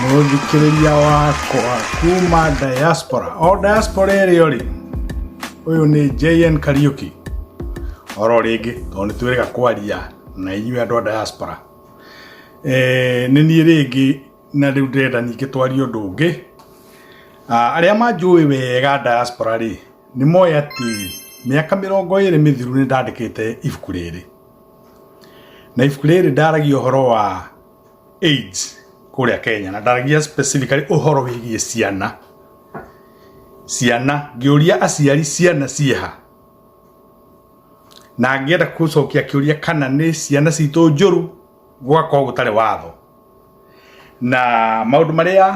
mũthikĩrĩria wakwa kuma diaspora o diaspora ĩrĩo rĩ ũyũ nĩ jn kariuki oro rĩngĩ tondũ nĩ twĩrĩga kwaria na inyuĩ andũ a diaspora Eh, nĩ niĩ rĩngĩ na rĩu ndĩrenda ningĩ twarie ũndũ ũngĩ Ah, arĩa manjũĩ wega diaspora rĩ nĩ moĩ atĩ mĩaka mĩrongo ĩrĩ mĩthiru nĩ ndandĩkĩte ibuku rĩrĩ na ibuku rĩrĩ ndaragia ũhoro wa AIDS kũrĩa Kenya na ndaragia specifically ũhoro wĩgiĩ ciana ciana ngĩũria aciari ciana ciĩha na ngĩenda gũcokia kĩũria kana nĩ ciana citũ njũru gũgakorwo gũtarĩ watho na maũndũ marĩa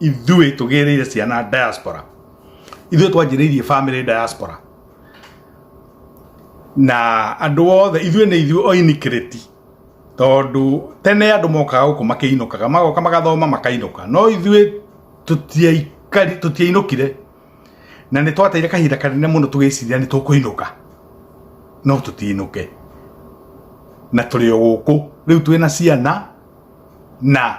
ithuĩ tũgĩrĩire ciana diaspora ithuĩ twanjĩrĩirie family diaspora na andũ othe ithuĩ nĩ ithuĩ oinikirĩti tondũ tene andũ mokaga gũkũ makĩinũkaga magoka magathoma makainũka no ithuĩ tũtiaikari tũtiainũkire na nĩ twateire kahinda kanene mũno tũgĩciria nĩ tũkũinũka no tũtiinũke na tũrĩ o gũkũ rĩu twĩ na ciana na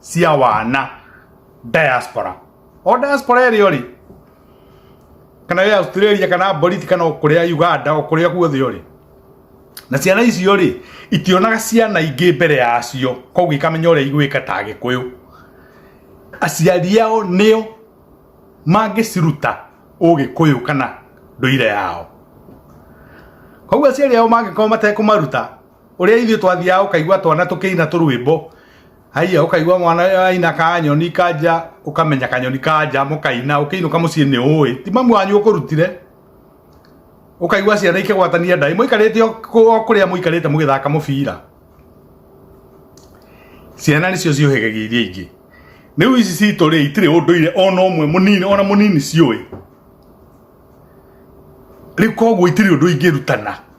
cia wana diaspora o diaspora ĩrĩa ũrĩ kana ya Australia kana Bolivia kana kũrĩa Uganda o kũrĩa guothe ũrĩ na ciana icio rĩ itionaga ciana ingĩ mbere yacio koguo ikamenya ũrĩa igwĩka ta gĩkũyũ aciari ao nĩo mangĩciruta ũgĩkũyũ kana ndũire yao koguo aciari ao mangĩkorwo matekũmaruta ũrĩa ithuĩ twathiaga ũkaigua twana tũkĩina tũrwĩmbo haiya ũkaigua mwana aina kanyoni kanja ũkamenya kanyoni kanja mũkaina ũkĩinũka mũciĩ nĩ ũĩ ti mamu wanyu ũkũrutire ũkaigua ciana ikĩgwatania ndai mũikarĩte o kũ- o kũrĩa mũikarĩte mũgĩthaka mũbira ciana nĩcio ciũhĩgagia iria ingĩ rĩu ici citũ rĩ itirĩ ũndũire ona ũmwe mũnini ona mũnini ciũĩ rĩu koguo itirĩ ũndũ ingĩrutana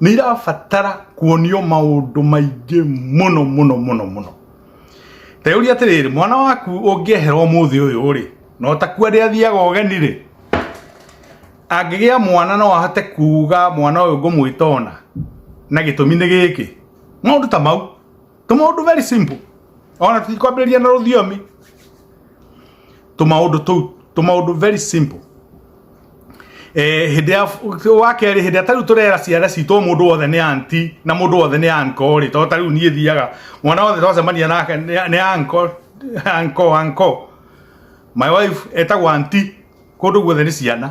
nä irabatara kuonio maundu maingi muno muno muno muno teyuria atiriri mwana waku ungiehera umuthi uyu ri no takua ri athiaga ugeni ri angigia mwana no ahote kuga mwana uyu ngumwitona na gitumi ni giki maundu ta mau tũmaũndũ very simple ona tũtikwambĩrĩria na rũthiomi tũmaũndũ tũu tũmaũndũ very simple eh, hĩndĩ ya wa kerĩ hĩndĩ ya tarĩu tũrera ciana citũ o mũndũ wothe nĩ anti na mũndũ wothe nĩ anko rĩ tondũ tarĩu niĩ thiaga mwana wothe twacemania nake nĩ nĩ anko anko anko my wife etagwo anti kũndũ guothe nĩ ciana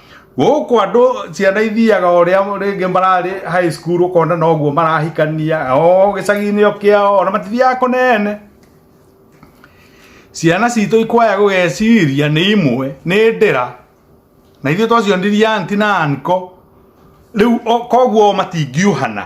gũkũ andũ ciana ithiaga o rĩa rĩngĩ mararĩ high school ũkona noguo marahikania o gĩcagi-inĩ o kĩao ona matithiaga kũnene ciana citũ ikwaya gũgeciria nĩ imwe nĩ ndĩra na ithuĩ twacionirie anti na anko rĩu o- koguo o matingiũhana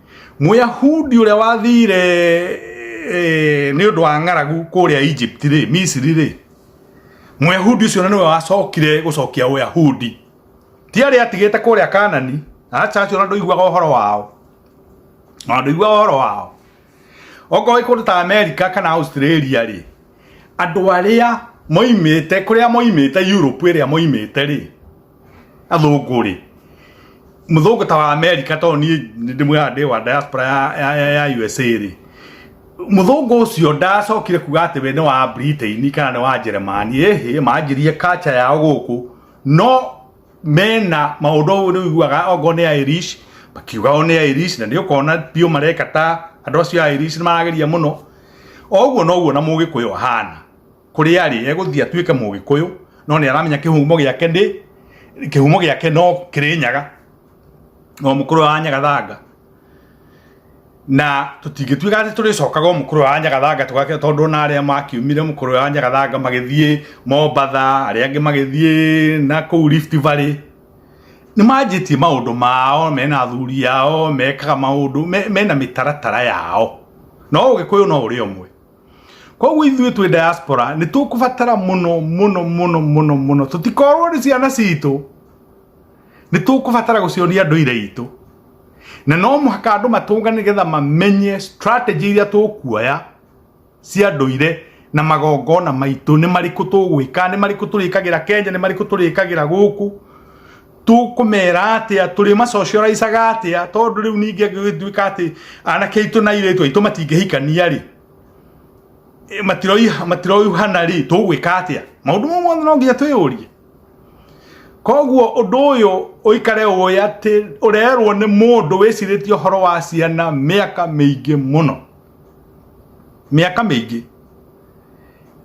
Mũyahudi ũrĩa wathire eh, nĩ ũndũ wa ng'aragu kũrĩa Egypt rĩ Misiri rĩ Mũyahudi ũcio na nĩwe wacokire gũcokia Ũyahudi ti arĩa atigĩte kũrĩa Kanani aca acio na ndũiguaga ũhoro wao na ndũiguaga ũhoro wao okorwo wĩ kũndũ ta America kana Australia rĩ andũ arĩa moimĩte kũrĩa moimĩte Europe ĩrĩa moimĩte rĩ athũngũ rĩ mũthũngũ ta wa america tondũ niĩ nĩ ndĩmwĩraga ndĩ wa diaspora ya, ya, ya, ya usa rĩ mũthũngũ ũcio ndacokire kuga atĩ we nĩ wa britain kana nĩ wa njeremani ĩhĩ manjirie kacha yao gũkũ no mena maũndũ ũyũ nĩ ũiguaga ongo nĩ irish makiuga o nĩ irish na nĩ ũkona biũ mareka ta andũ acio a irish nĩ marageria mũno oguo noguo na mũgĩkũyũ ahana kũrĩa arĩ egũthiĩ atuĩke mũgĩkũyũ no nĩ aramenya kĩhumo gĩake ndĩ kĩhumo gĩake no kĩrĩ nyaga no mũkũrũ wa nyaga thanga na tũtingĩtuĩka atĩ tũrĩcokaga mũkũrũ wa nyagathanga tũgake tondũ ona arĩa makiumire mũkũrũ wa nyagathanga magĩthiĩ mombatha arĩa angĩ magĩthiĩ na kũu rift valley nĩ manjĩtie maũndũ mao mena athuri yao mekaga maũndũ mena mĩtaratara yao no ũgĩkũyũ no ũrĩ ũmwe koguo ithuĩ twĩ diaspora nĩ tũkũbatara mũno mũno mũno mũno mũno tũtikorwo nĩ ciana citũ nĩ tũkũbatara gũcionia ndũire itũ na no mũhaka andũ matũnga nĩgetha mamenye strategy iria tũkuoya cia ndũire na magongona maitũ nĩ marĩkũ tũgwĩka nĩ marĩkũ tũrĩkagĩra kenya nĩ marĩkũ tũrĩkagĩra gũkũ tũkũmera atĩa tũrĩ macocoraicaga atĩa tondũ rĩu ningĩ angĩgĩtuĩka atĩ anake aitũ na airĩtu aitũ matingĩhikania rĩ matiroiha matiroihana rĩ tũgwĩka atĩa maũndũ mau mothe no nginya twĩyũrie koguo ũndũ ũyũ ũikare ũĩ atĩ ũrerwo nĩ mũndũ wĩcirĩtie ũhoro wa ciana mĩaka mĩingĩ mũno mĩaka mĩingĩ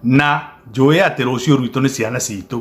na njũĩ atĩ rũciũ rwitũ nĩ ciana citũ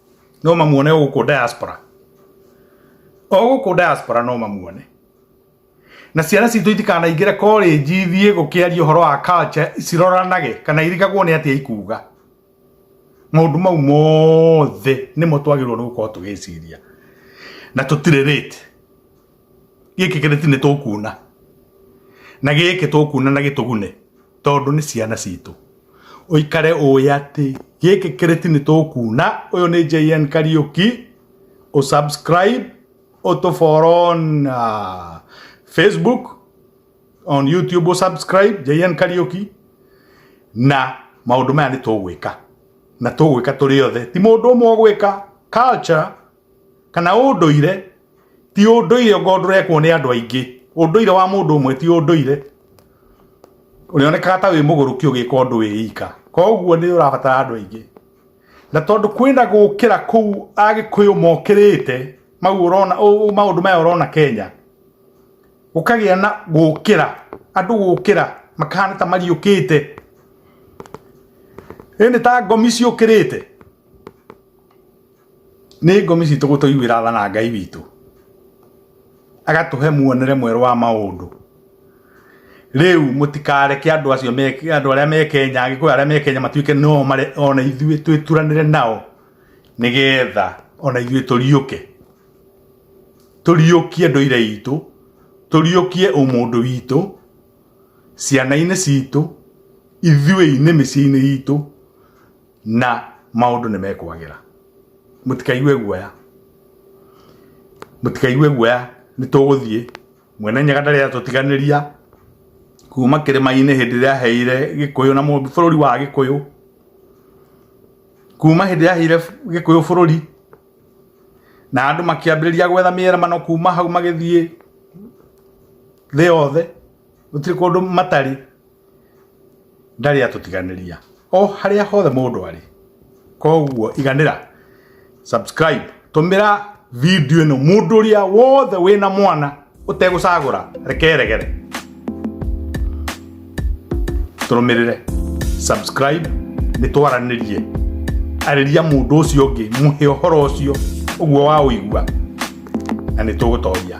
no mamuone gũkũ diaspora o gũkũ diaspora no mamuone na ciana citå itikanaingä re college ithiä gå kä aria å horo wa culture ciroranage kana irigagwo nä atä ikuga maundu mau mothe nimo twagirwo ni gukorwo tugiciria na tutire rate gĩkĩ kĩrĩti nĩ tũkuuna na gĩkĩ tũkuuna na gĩtũgune tondũ nĩ ciana citũ ũikare ũĩ atĩ gĩkĩ kĩrĩti nĩ tũkuuna ũyũ nĩ JN Kariuki ũsubscribe ũtũboro on uh, Facebook on YouTube ũsubscribe JN Kariuki na maũndũ maya nĩ tũgwĩka na tũgwĩka tũrĩ othe ti mũndũ ũmwe ũgwĩka culture kana ũndũire ti ũndũire ngo ndũrekwo nĩ andũ aingĩ ũndũire wa mũndũ ũmwe ti ũndũire ũrĩonekaga ta wĩ mũgũrũki ũgĩka ũndũ wĩ ika koguo nĩ ũrabatara andũ aingĩ na tondũ kwĩna gũkĩra kũu agĩkũyũ mokĩrĩte mau ũrona maũndũ maya ũrona Kenya gũkagĩa na gũkĩra andũ gũkĩra makahana ta mariũkĩte ĩĩ nĩ ta ngomi ciũkĩrĩte nĩ ngomi citũ gũtũiguĩra tha na Ngai witũ agatũhe muonere mwerũ wa maũndũ rĩu mũtikareke andũ acio andũ arĩa me Kenya agĩkũyũ arĩa me Kenya matuĩke no ona ithuĩ twĩturanĩre nao nĩgetha ona ithuĩ tũriũke tũriũkie ndũire itũ tũriũkie ũmũndũ witũ ciana-inĩ citũ ithuĩ-inĩ mĩciĩ-inĩ itũ na maũndũ nĩ mekwagĩra mũtikaigue guoya mũtikaigue guoya nĩ tũgũthiĩ mwene nyaga ndarĩ atũtiganĩria kuma kĩrĩma-inĩ hĩndĩ ĩrĩa aheire gĩkũyũ na mũmbi bũrũri wa gĩkũyũ kuma hĩndĩ ĩrĩa aheire gĩkũyũ bũrũri na andũ makĩambĩrĩria gwetha mĩeramano kuma hau magĩthiĩ thĩ yothe gũtirĩ kũndũ matarĩ ndarĩ atũtiganĩria o harĩa hothe mũndũ arĩ koguo iganĩra subscribe tũmĩra video ĩno mũndũ ũrĩa wothe wĩna mwana ũtegũcagũra rekeregere tũrũmĩrĩre subscribe nĩ twaranĩrie arĩria mũndũ ũcio ũngĩ mũhe ũhoro ũcio ũguo wa ũigua na nĩ tũgũtoria